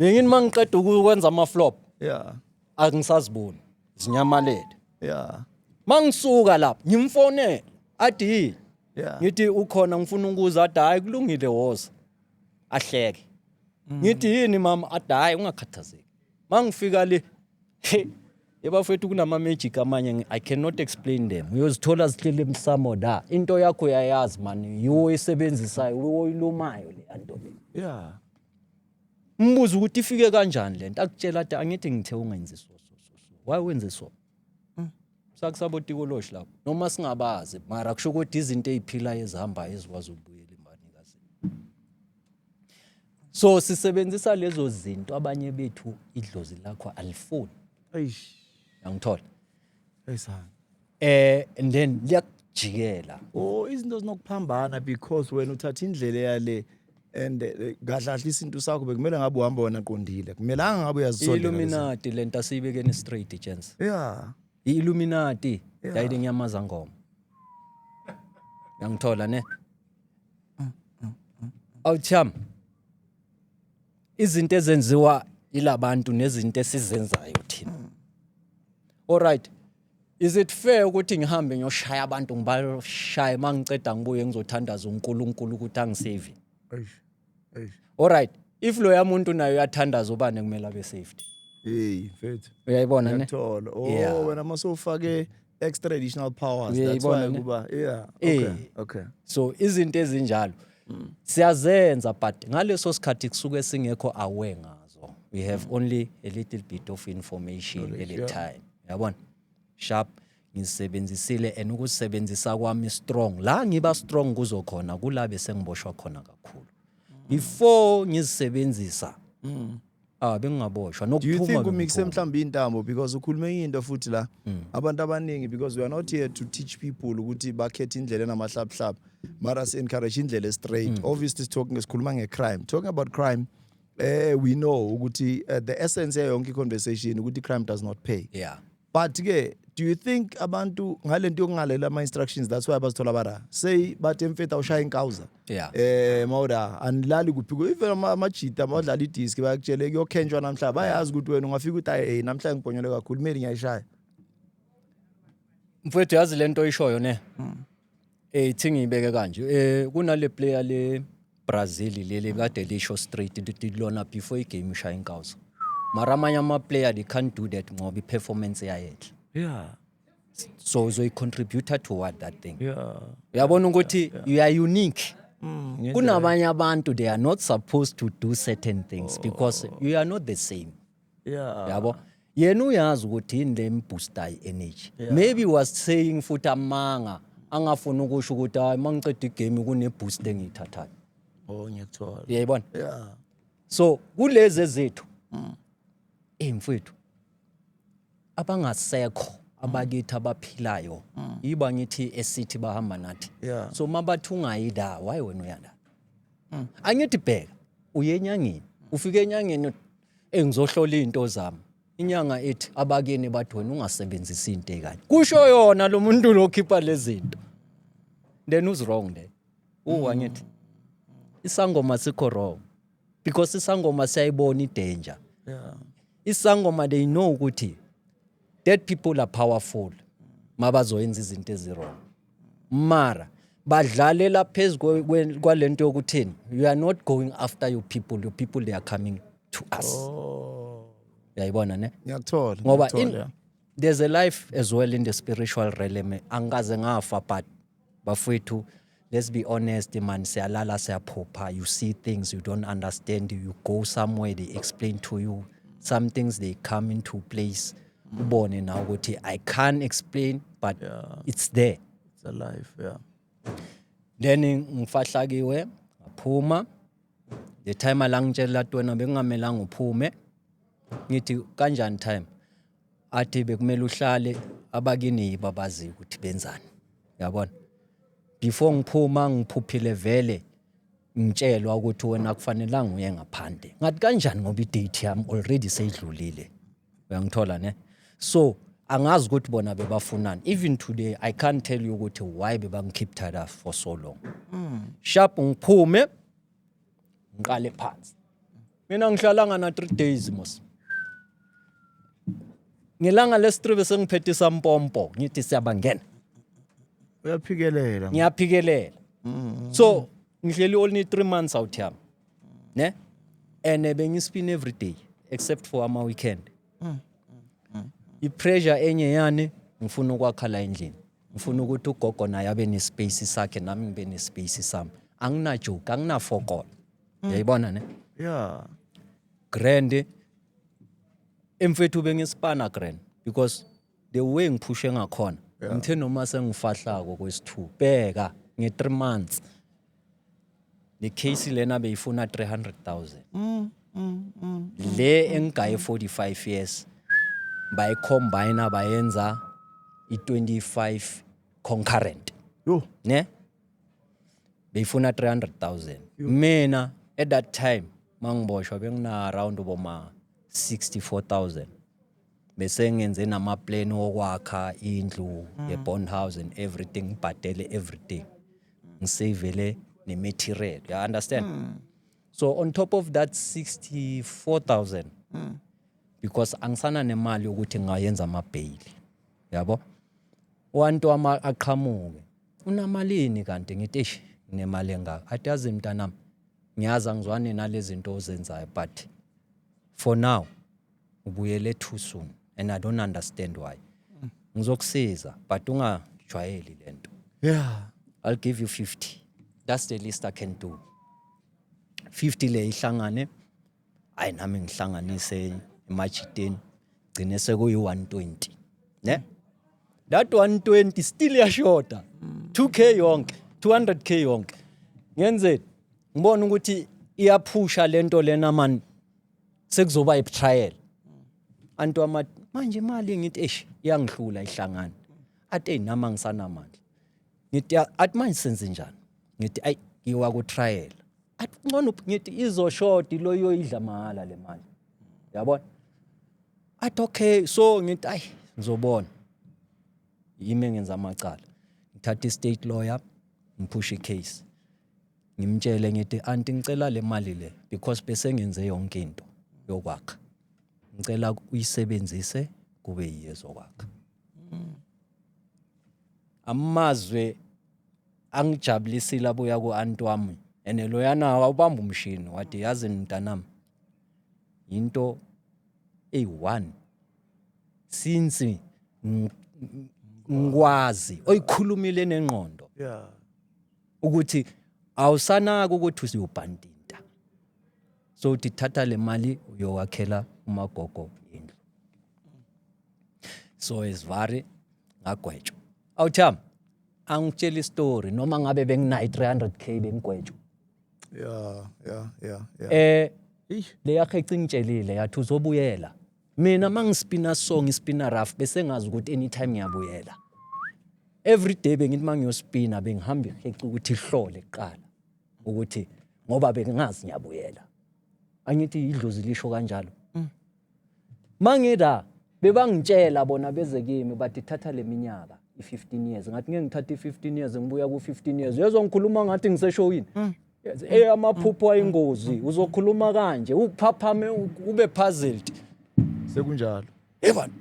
ngini mangiqeda ukwenza ama flop yeah angisaziboni zinyamalele yeah mangisuka lapha ngimfonela adi yeah ngithi ukhona ngifuna ukuza adi hayi kulungile woza ahleke mm. ngithi yini mama adi hayi ungakhathazeki mangifika le yebafethu kunama magic amanye i cannot explain them uyozithola zihlele emsamo da into yakho uyayazi mani yiwo oyisebenzisayo uyilumayo le anto le yeah Mbuza ukuthi ifike kanjani le nto akutshela athi angithi ngithe ungenzi so so so so why wenze so mm. sakusabo tikoloshi lapho noma singabazi mara kusho ukuthi izinto eziphilayo ezihambayo ezikwazi ukubuyela imbanikazi so sisebenzisa lezo zinto abanye bethu idlozi lakho alifuni ayangithola eh and then liyakujikela oh izinto zinokuphambana because wena uthatha indlela yale and eh, kahle kahle isintu sakho bekumele ngabe uhamba wena qondile kumelanga ngabe uyazisondela lezi- illuminati lento asiyibekeni straight chance yeah i-illuminati Yeah. yayile nyamaza ngoma yangithola ne awucham izinto ezenziwa ilabantu nezinto esizenzayo thina all right Is it fair ukuthi ngihambe ngiyoshaya abantu ngibashaye uma ngiceda ngibuye ngizothandaza uNkulunkulu ukuthi angisave? Eish. Eish. Alright, if loya muntu naye uyathandaza ubani ekumele abe saved? Hey, mfethu. Uyayibona ne? Ngiyakuthola. Oh, Yeah. wena mase ufake extra additional powers. That's Uyayibona why ne? kuba yeah. Eh. Okay. Okay. So izinto ezinjalo siyazenza but ngaleso sikhathi kusuke singekho aware ngazo. We have only a little bit of information at a time. yabona sharp ngisebenzisile and ukusebenzisa kwami strong la ngiba strong kuzo khona kula bese ngiboshwa khona kakhulu before ngizisebenzisa mm. ah bengingaboshwa nokuphuma do you think umixe mhlawumbe intambo because ukhulume into futhi la mm. abantu abaningi because we are not here to teach people ukuthi bakhethe indlela enamahlabuhlabu mara si encourage indlela straight mm. obviously talking sikhuluma nge crime talking about crime eh we know ukuthi uh, the essence yayo yonke conversation ukuthi crime does not pay yeah but ke do you think abantu ngalento yokungalela ama instructions that's why abazithola bara say bathi emfetha ushaya inkawuza yeah eh mawuda anilali kuphi ku even ama- amajita abadlala idisk bayakutshele kuyokhenjwa namhlanje bayazi ukuthi wena ungafika uthi hayi hey, namhlanje ngibhonyole kakhulu kumele ngiyayishaya mfowethu yazi lento oyishoyo ne Eh thi ngiyibeke kanje eh kunale player le Brazil leli kade lisho straight ukuthi lona before igame ishaya inkawuso mara amanye ama-player they can't do that ngoba i-performance yayetla yeah so uzoyi-contributor toward that thing yeah uyabona ukuthi yeah, yeah. you are unique mm, kunabanye abantu they are not supposed to do certain things oh. because you are not the same Yeah. yabo yena uyazi ukuthi yini le mbooster i-energy maybe was saying futhi amanga angafuni ukusho ukuthi hayi uma ngiceda igame kuneboost engiyithathayo Oh ngiyakuthola. uyayibona Yeah. so kulezi ezethu eyi mfwethu abangasekho abakithi abaphilayo yiba ngithi esithi bahamba nathi Yeah. so uma bathi ungayi la wayi wena uyala angithi bheka uye enyangeni ufike enyangeni Ey ngizohlola izinto zami. Inyanga ethi abakini bathi wena ungasebenzisi into ekanye. Kusho yona lo muntu lokhipha lezinto. Then who's wrong there? Uwa mm. ngithi isangoma sikho wrong because isangoma siyayibona idanger. Yeah. Isangoma they know ukuthi Dead people are powerful mabazoyenza izinto ezirong. Mara badlalela phezu kwalento yokuthini you are not going after your people your people they are coming to us. Oh. Uyayibona ne? Ngiyakuthola. Ngoba there's a life as well in the spiritual realm angikaze ngafa but Bafwethu, let's be honest man, siyalala siyaphupha, you see things you don't understand, you go somewhere they explain to you, some things they come into place. Ubone now ukuthi I can't explain but yeah. it's there. It's alive, yeah. Then ngifahlakiwe, ngaphuma. The time alangitshela tona bekungamelanga uphume. Ngithi kanjani time? athi bekumele uhlale abakini yibo abaziyo ukuthi benzani yabona before ngiphuma ngiphuphile vele ngitshelwa ukuthi wena kufanelanga uye ngaphandle ngathi kanjani ngoba idate yami already seyidlulile uyangithola ne so angazi ukuthi bona bebafunani even today i can't tell you ukuthi why bebangikhip tied up for so long mm. sharp ngiphume ngiqale phansi Mina ngihlalanga na 3 days mos. Ngelanga lesitribe sengiphethe isampompo ngithi siyabangena. uyaphikelela Ngiyaphikelela. So ngihleli only 3 months out here. Ne? And eh, bengispin every day except for ama weekend. I pressure enye yani ngifuna ukwakha la endlini. Ngifuna ukuthi ugogo naye abe ne space sakhe nami ngibe ne space sami. Angina joke, angina fokola. yayibona ne yeah grand emfethu bengisipana grand because the way ngiphushe ngakhona ngithe noma sengifahlako kwesithu bheka nge-three months le case lena beyifuna 300000 le engigaye 45 years bayicombina bayenza i-25 concurrent yo ne beyifuna 300000 mina at that time mangiboshwa bengina around uboma 64000 bese ngenze nama plan wokwakha indlu mm. ye bond house and everything ngibhadele everything ngisavele ne material you understand mm. so on top of that 64000 mm. because angisana nemali ukuthi ngayenza ama bail yabo wantu ama aqhamuke Unamalini kanti ngithi eish nemali engaka. Athi yazi mntanami ngiyazi angizwani nalezinto ozenzayo but for now ubuyele too soon and I don't understand why. Ngizokusiza but ungajwayeli lento. Yeah. I'll give you 50. That's the least I can do. 50 le ihlangane hayi nami ngihlanganise emajiteni gcine sekuyi-120 ne that 120 still yashoda 2k yonke 200k yonke ngenzeni ngibona ukuthi iyaphusha lento lena man sekuzoba ibetrayal antu ama manje imali ngithi eish iyangihlula ihlangana ate nama ngisanamandla ngithi athi manje senze njani ngithi ayi ngiwa ku trial athi ngcono ngithi izoshodi lo yoyidla mahala le mali yabona athi okay so ngithi ayi ngizobona yimi ngenza amacala ngithatha i-state lawyer ngiphusha i-case ngimtshele ngithi anti ngicela le mali le because bese ngenze yonke into yokwakha ngicela uyisebenzise kube yiyezokwakha amazwe angijabulisile abuya ku-anti wami and loyana awubamba umshini wathi yazi mntanami yinto eyi-one since ngikwazi oyikhulumile nengqondo ukuthi awusanaki ukuthi usiyobhandini so uthi thatha le mali uyowakhela umagogo indlu so esivari ngagwetshwa awutham angitshela istory noma ngabe benginayo i-300 k bengigwetshwa ya ya ya ya eh le yakhe cingitshelile yathi uzobuyela mina mangispina song ispina rough bese ngazi ukuthi anytime ngiyabuyela every day bengithi mangiyospina bengihamba iheca ukuthi ihlole kuqala ukuthi ngoba bengingazi ngiyabuyela angithi idlozi lisho kanjalo mm. mangida bebangitshela bona beze kimi bathi thatha leminyaka i-15 years ngathi ngeke ngithathe i-15 years ngibuya ku-15 years uyezwa ngikhuluma ngathi ngiseshowini mm. eh amaphupho ayingozi uzokhuluma kanje uphaphame ube puzzled sekunjalo Yevani.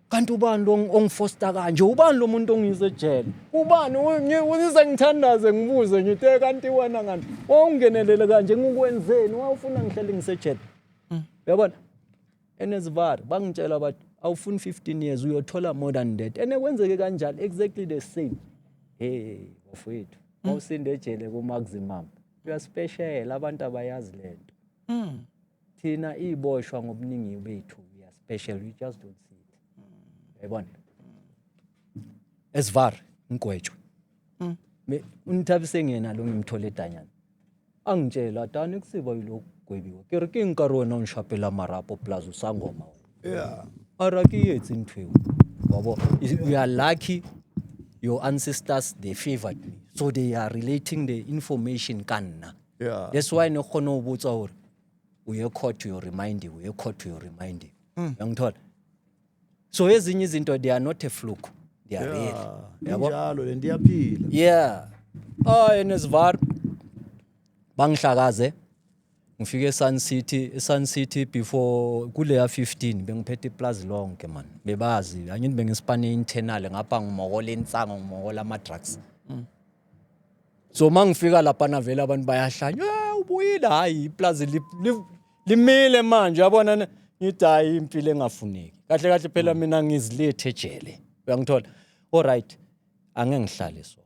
Kanti ubani lo ongifosta kanje? Ubani lo muntu ongize ejele? Ubani ungize ngithandaze ngibuze ngithi eh, kanti wena kanti wawungenelele kanje ngikwenzeni? Wawufuna ngihlele ngisejele. Mm. Yabona? Enesivara bangitshela bathi awufuni 15 years uyothola more than that. Ene kwenzeke kanjalo exactly the same. Hey, bafowethu. Mawusinde mm. ejele ku maximum. Uyaspeshela abantu abayazi lento. Mm. thina iboshwa ngobuningi bethu we are special we just don't see it yayibona esivar ngigwetshwe mm. unithabise ngiyena lo ngimthole edanyana angitshela tani kusiba yilokhu gwebiwe ke re ke nka re wena o nshapela marapo plus o sa ngoma yeah ara ke etse ntho eo wabo we are lucky your ancestors they favored me so they are relating the information ka nna yeah that's why ne khona ubutsa hore uye court you remind you uye court you remind you hmm. yangithola so ezinye izinto they are not a fluke they are real yabo njalo le ndiyaphila yeah oh enesvar bangihlakaze ngifike eSun City eSun City before kuleya 15 bengiphethe iplazi lonke man bebazi angithi bengisipane internal ngapha ngimokola insango ngimokola ama drugs mm. so uma ngifika lapha navele abantu bayahlanya "Eh, ubuyile hhayi iplazi li- li- limile manje yabona ne- ngithi hhayi impilo engafuneki kahle kahle phela mina ngizilethe ejele uyangithola olright ange ngihlale so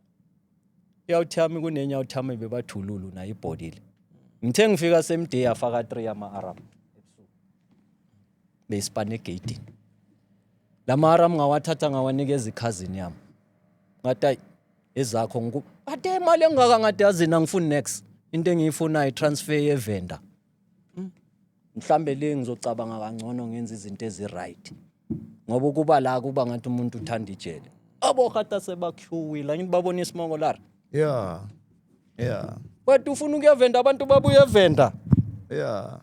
iyawuthi yami kunenye yawuthi yami bebathululu nayo ibhodile ngithe ngifika same day afaka 3 yama-aram beyisipane egeyidini la ma-aram ngawathatha ngawanikeza ikhazini yami ngathi ayi ezakho ngiku but imali engaka ngadazini angifuni next into engiyifunayo transfer yevenda mhlambe le ngizocabanga kangcono ngenza izinto eziright ngoba ukuba la kuba ngathi umuntu uthanda ijele abo hata sebakhuwile angithi babona isimoko lara yeah yeah wet ufuna ukuyevenda abantu babuye evenda yeah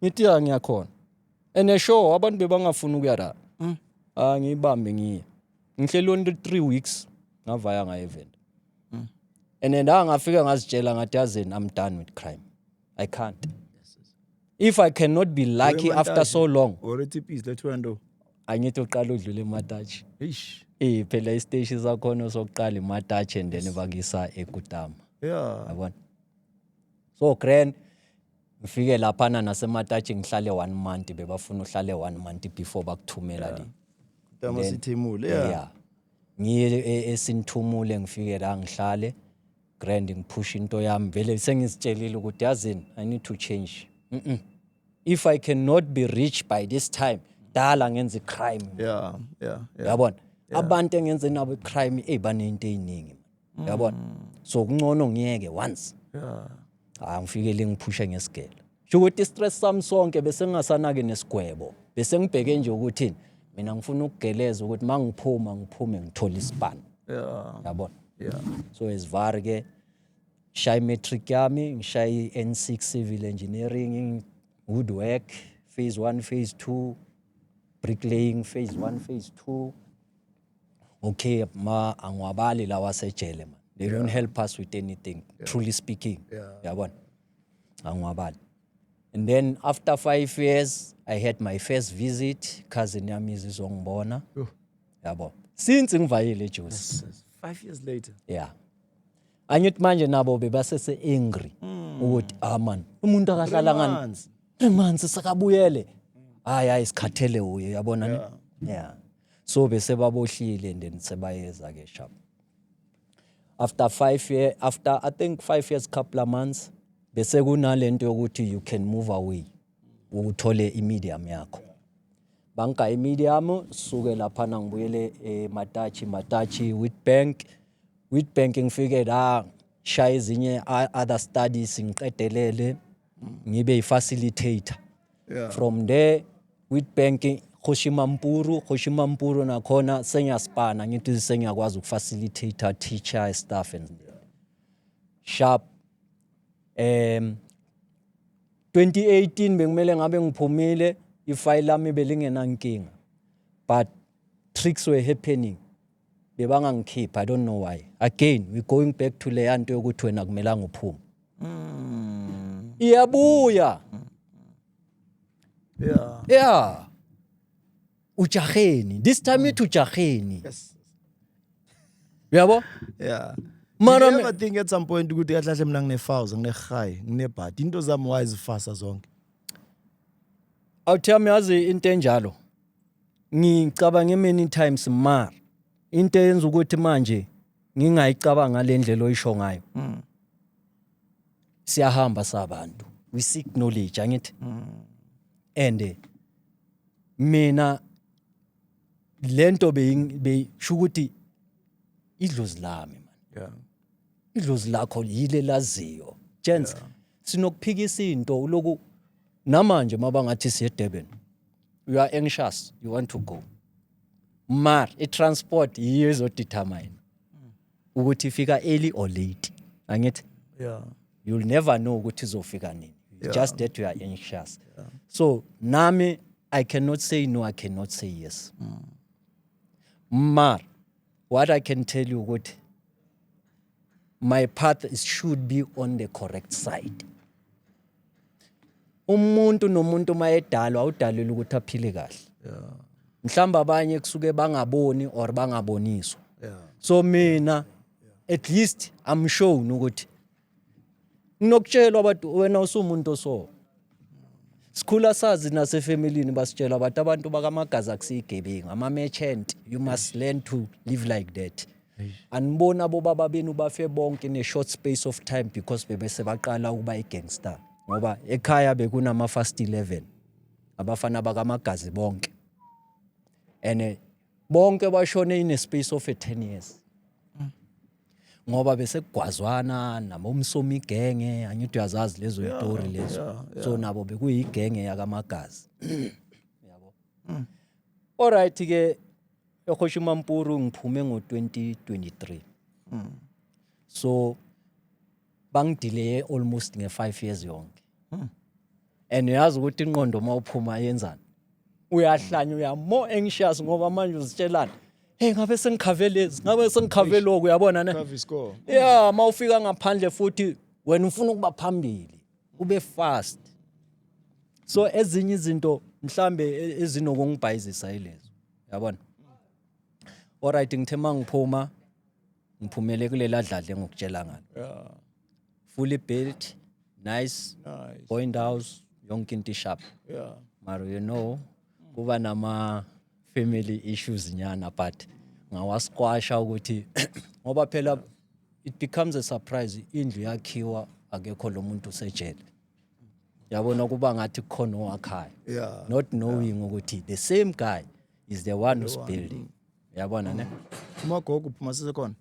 ngithi ya ngiyakhona and a show abantu bebangafuni ukuya la angiyibambe ngiye ngihleli on 3 weeks ngavaya nga event mm. and then angafika ngazitshela ngathi yazini i'm done with crime i can't if i cannot be lucky after so long already peace let you know angithi uqala udlule ematachi eish eh phela isteshi sakhona sokuqala ematachi and then bakisa ekutama yeah yabona so grand Ngifike laphana naseMatachi ngihlale one month bebafuna uhlale one month before bakuthumela le. Dama Then- sithimule. Yeah. Yeah. Ngiye e- esinithumule ngifike la ngihlale grand ngiphusha into yami vele sengizitshelile ukuthi yazini I need to change. Mm-mm. If I cannot be rich by this time dala ngenza i-crime. Yeah. Yeah. Yeah. yabona abantu engenze nabo i-crime eyi banento eyiningi yabona so kuncono ngiyeke once Yeah. hayi ngifike le ngiphushe ngesigelo sho ukuthi istress sami sonke bese ngingasanaki nesigwebo bese ngibheke nje ukuthi mina ngifuna ukugeleza ukuthi mangiphuma ngiphume ngithola isibani yabona yeah so esivari ke shayi matric yami ngishayi N6 civil engineering good work phase 1 phase 2 bricklaying phase 1 phase 2 Okay, ma angiwabali lawa sejele man. They don't help us with anything. Truly speaking. Yeah. Yabona. Angiwabali. And then after 5 years I had my first visit cousin yami izizongibona. Yho. Yabo. Since ngivayile eJosi. Five years later. Yeah. Angithi manje nabo bebasese angry ukuthi ah man umuntu akahlala ngani Manzi. three months sakabuyele hayi hayi sikhathele uye yabona ne yeah so bese babohlile and then sebayeza ke sham after 5 year after i think 5 years couple of months bese kunalento yokuthi you can move away uthole imedium yakho banka imedium suke lapha ngibuyele ematachi eh, matachi with bank with bank ngifike la shaya ezinye other studies ngiqedelele ngibe yi-facilitator yeah. from there with bank khoshimampuru khoshimampuru nakhona sengiyaspana ngithi sengiyakwazi ukufacilitator teacher staff and sharp um 2018 bekumele ngabe ngiphumile ifayili lami belingenankinga but tricks were happening Bebangangikhipha I don't know why. Again we going back to leya nto yokuthi wena kumelanga uphume. Mm. Iyabuya. Yeah. Yeah. Ujaheni. This time it ujaheni. Yes. Uyabo? Yeah. Mara Did you ever think at some point ukuthi kahle kahle mina ngine fouls, ngine high, ngine bad. Into zami why zifasa zonke? Awuthami yazi into enjalo. ngicabange many times mar into eyenza ukuthi manje ngingayicabanga le ndlela oyisho ngayo mm. siyahamba sabantu we seek knowledge angithi mm. and eh, mina lento beyisho ukuthi idlozi lami man yeah idlozi lakho yile laziyo gents yeah. sinokuphikisa into uloku namanje mabangathi siye Durban you are anxious you want to go mar i-transport yiyo ezodetermine ukuthi ifika early or late angithi yeah you'll never know ukuthi izofika nini yeah. just that you are anxious yeah. so nami i cannot say no i cannot say yes mm. mar what i can tell you ukuthi my path is should be on the correct side umuntu nomuntu uma edalwa awudalelwe ukuthi aphile kahle yeah. mhlawumbe abanye kusuke bangaboni or bangaboniswa yeah. so mina yeah. at least i'm shown ukuthi nginokutshelwa abantu wena usumuntu oso sikhula sazi nasefamilini basitshela abantu abantu bakamagazi akusiyigebengu ama-merchant you must learn to live like that aniboni abobaba benu bafe bonke in a short space of time because bebese baqala ukuba i-gangster ngoba ekhaya bekunama-fast 11 abafana bakamagazi bonke and eh, bonke bashone in a space of a 10 years ngoba bese kugwazwana nabo umsomi igenge angithi uyazazi lezo yitori lezo so nabo bekuyigenge yakamagazi yabo mm. all right ke ehosha umampuru ngiphume ngo-2023 mm. so bangidileye almost nge-five years yonke hmm. and uyazi ukuthi inqondo uma uphuma yenzani uyahlanya uyamo anxious ngoba manje uzitshelana hey ngabe sengikhave lezi ngabe sengikhave lokhu uyabona ne ya uma ufika ngaphandle futhi wena ufuna ukuba phambili ube fast so ezinye izinto mhlambe e, ezinokungibhayizisa yilezo yabona alright ngithe mangiphuma ngiphumele kulela dladla engikutshela ngalo yeah fully built nice nice point house yonke into ishap yeah mara you know kuba nama family issues nyana but ngawasquasha ukuthi ngoba phela it becomes a surprise indlu yakhiwa akekho lo muntu usejele yabona kuba ngathi kukhona owakhaya yeah not knowing ukuthi the same guy is the one who's building yabona ne umagogo uphuma sisekhona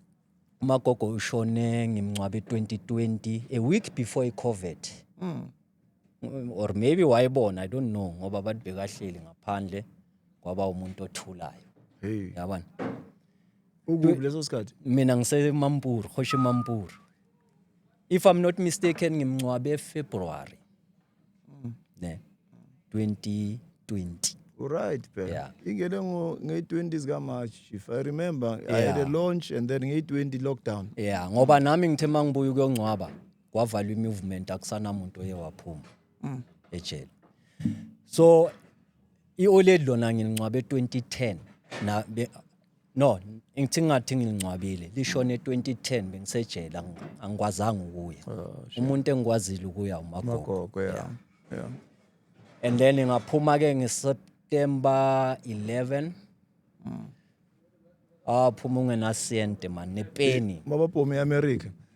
umagogo ushone ngimncwabe 2020 a week before i-covid mm. or maybe wayebona i don't know ngoba abantu bekahleli ngaphandle kwaba umuntu othulayo hey. yabona ukuphi leso sikhathi mina ngisemampuru hoshe mampuru if i'm not mistaken ngimncwabe efebruary mm. ne 2020 Right, phela. Yeah. Ingene ngo nge-20 zika March if I remember yeah. I had a launch and then nge-20 lockdown. Yeah, ngoba nami ngithe mangibuya ukuyongcwaba kwavalwa imovement akusanamuntu oye waphuma. Mm. Ejele. So iOLED lona ngingcwabe 2010 na No, ngithi ngathi ngilingcwabile. Lishone 2010 bengisejela angikwazanga ukuya. Oh, Umuntu engikwazile ukuya uMagogo. Magogo yeah. Yeah. And then ngaphuma ke ngeSeptember 11. Mm. Ah phuma ungenasente man nepeni. Mabaphume eAmerica.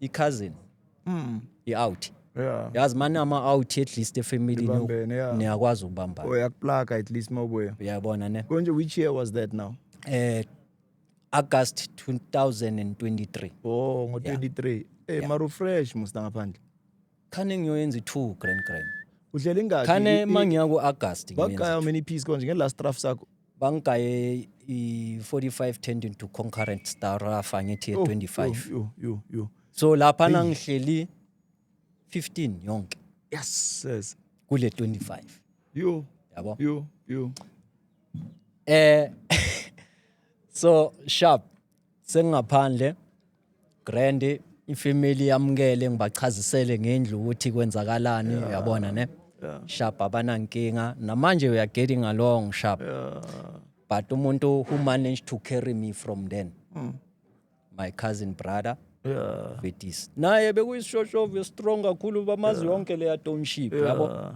i-cousin Mm. i-out Yeah. yazi mani ama-out at least efamilini Nibambene, yeah. niyakwazi ukubambana Oh, yakuplaka at least mawubuya. uyabona ne Konje which year was that now? eh August 2023 Oh, ngo-23. Eh, mara ufresh musta ngaphandle. khane ngiyoyenza i-two grand grand udlela ingaki khane I- i- uma ngiya ku-agasti bakugaya many piece konje nge-last rough sakho bangigaye i-45 tendon to concurrent starafa ngithi Oh, ye-25 yo, yo, yo, yo. so laphana ngihleli 15 yonke yes yes kule 25 yo yabo yo yo eh so sharp sengingaphandle Grand ifamily yamukele ngibachazisele ngendlu ukuthi kwenzakalani uyabona ne Yeah. sharp abanankinga namanje we are getting along sharp Yeah. but umuntu who managed to carry me from then Mm. my cousin brother Yeah. Vetis naye bekuyisishoshovu strong kakhulu bamazi yonke leya township yabo Yeah.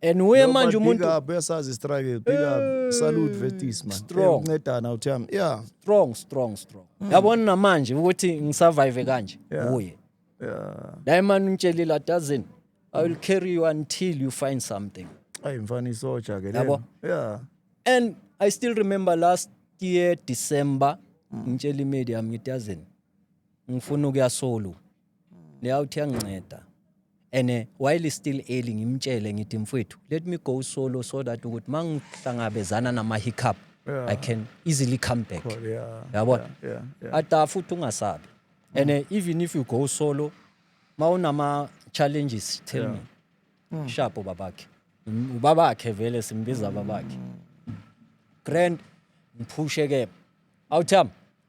and uye No, manje but umuntu big up uyasazi struggle big up salute vetis man Strong. uncedana uthi yami yeah strong strong strong yabona namanje ukuthi ngisurvive kanje Mm. Yeah. uye yeah naye mani ungitshelile adazini i will carry you until you find something ayi mfana isoja ke Yabo. lena. yeah and i still remember last year december Mm. ngitshela imedia yami ngithi yazini ngifuna ukuya solo leyawuthi yanginceda and eh, while is still early ngimtshele ngithi mfwethu let me go solo so that ukuthi uma ngihlangabezana nama-hiccup Yeah. i can easily come back Cool, yeah, yabona yeah, yeah, yeah. ada futhi ungasabi and eh, even if you go solo ma unama-challenges tell Yeah. me sharp ubabakhe Mm, ubabakhe vele simbiza babakhe grand ngiphushe ke awutham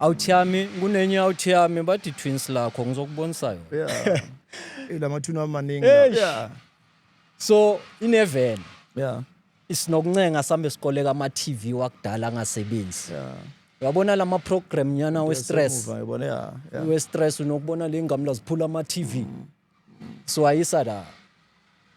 Out yami kunenye out yami bathi twins lakho ngizokubonisa yona. Yeah. Eh lamathuna amaningi. Eish. Yeah. So inevele Yeah. isinokuncenga sambe sikoleka ama TV wakudala angasebenzi. Yeah. Uyabona lama program nyana we stress. Semuva, Yabona yeah. yeah. We stress unokubona le ngamla ziphula ama TV. So ayisa la.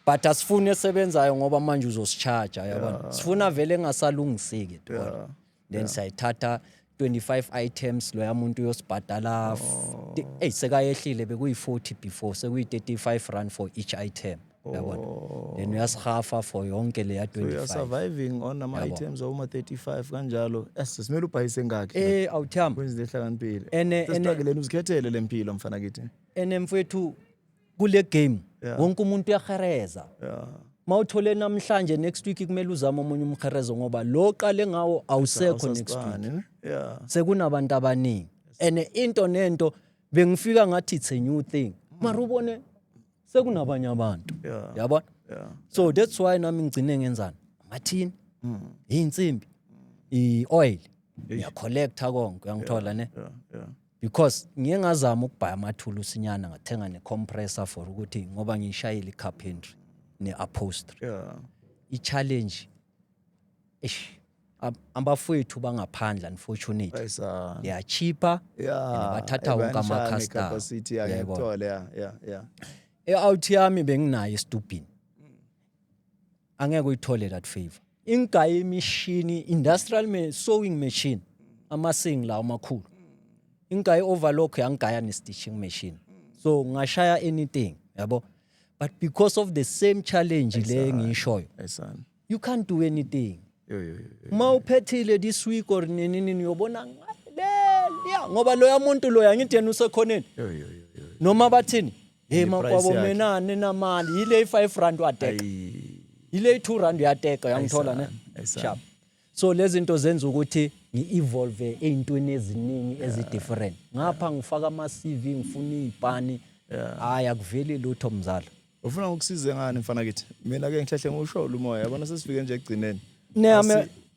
But asifuni esebenzayo ngoba manje uzosicharge yabona. Sifuna vele engasalungiseki. Yeah. then yeah. sayithatha 25 items loya muntu uyosibhadala oh. eyi sekayehlile bekuyi-40 before sekuyi-35 rand for each item yabona oh. then uyasihafa for yonke leya 25 surviving on ama items awuma 35 kanjalo yes simele ubhayise ngakhi eh awuthamba kwenze lehlakaniphile ene ene uzikhethele lempilo mfana kithi ene mfethu kule game Yeah. wonke umuntu uyahereza Yeah. mawuthole namhlanje next week kumele uzame omunye umherezo ngoba lo qale ngawo awusekho next week Awusasibani, ne? Yeah. sekunabantu abaningi and into nento bengifika ngathi it's a new thing mara ubone sekunabanye abantu Yeah. yabona Yeah. so that's why nami ngigcine ngenzani amathini Mm. iy'nsimbi i-oil ngiyacollecta konke uyangithola ne Yeah. Yeah. because ngiye ngazama ukubhaya amathulusi nyana ngathenga ne-compressor for ukuthi ngoba ngiyishayile i-carpentry ne-upholstery Yeah. i-challenge eish ab- abafowethu bangaphandle unfortunately Bayisa. liyachipha Yeah. and bathatha wonke ebanjani ama-customer. capacity, yeah, Yebo. ngiyakuthola, yeah, yeah, yeah. e-out yami benginayo estubhini angeke uyithole that favor ingayi imishini industrial me, sewing machine amasing la amakhulu ingayi overlock yangigaya ne stitching machine so ngashaya anything yabo but because of the same challenge le ngishoyo you can't do anything uma uphethile this week or nini nini uyobona ngale ngoba loya muntu loya ngithi yena usekhoneni noma bathini Hey And the price makwabo yakhe. mina ninamali yile 5 rand wateka. Ayi, Yile 2 rand uyateka uyangithola ne? Ayisana, ayisana. Sharp. So lezinto zenza ukuthi ngi-evolve ezintweni eziningi ezidifferent. Ngapha ngifaka ama CV ngifuna izipani. Hayi akuveli lutho mzala. ufuna ukusize ngani mfana kithi mina ke ngihlehle ngiwusholo umoya yabona sesifike nje ekugcineni Neyame Asi-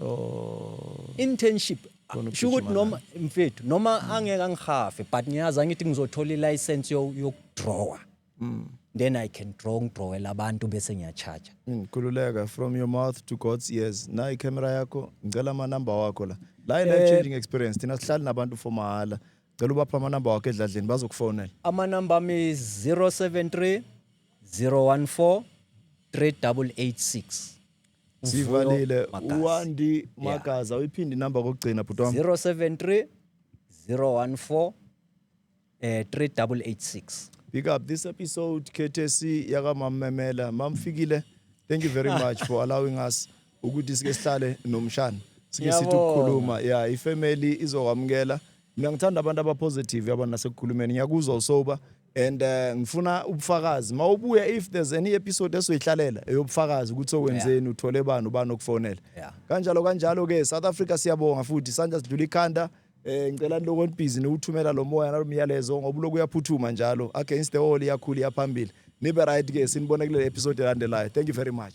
Oh. Internship sho ukuthi noma mfethu noma mm. angeke angihafe but ngiyazi angithi ngizothola i-license yokudrawer mm. then i can draw ngidrawela abantu bese ngiyacharge mm, khululeka from your mouth to god's ears na icamera yakho ngicela amanumber wakho la la i-life eh, changing experience thina sihlali nabantu for mahhala cela ubapha amanumber wakho edladleni bazokufonela amanumber ami 073 014 3886 Sivalile uWandi Magaza yeah. uyiphinde inamba kokugcina bhuti wami 073 014 eh 3886 Big up this episode KTC yaka Mamemela mamfikile thank you very much for allowing us ukuthi sike sihlale nomshana sike sithi ukukhuluma yeah ifamily izokwamukela mina ngithanda abantu abapositive yabona nasekukhulumeni ngiyakuzwa usoba and uh, ngifuna ubufakazi mawubuya if there's any episode esoyihlalela eyobufakazi ukuthi okwenzeni uthole bani ubani okufonela Yeah. kanjalo kanjalo ke South Africa siyabonga futhi sandla sidlula ikhanda eh ngicela lokho onibhizi niwuthumela lo moya nalomyalezo ngoba lokhu uyaphuthuma njalo against the wall iyakhula iyaphambili nibe right ke sinibone kule episode elandelayo thank you very much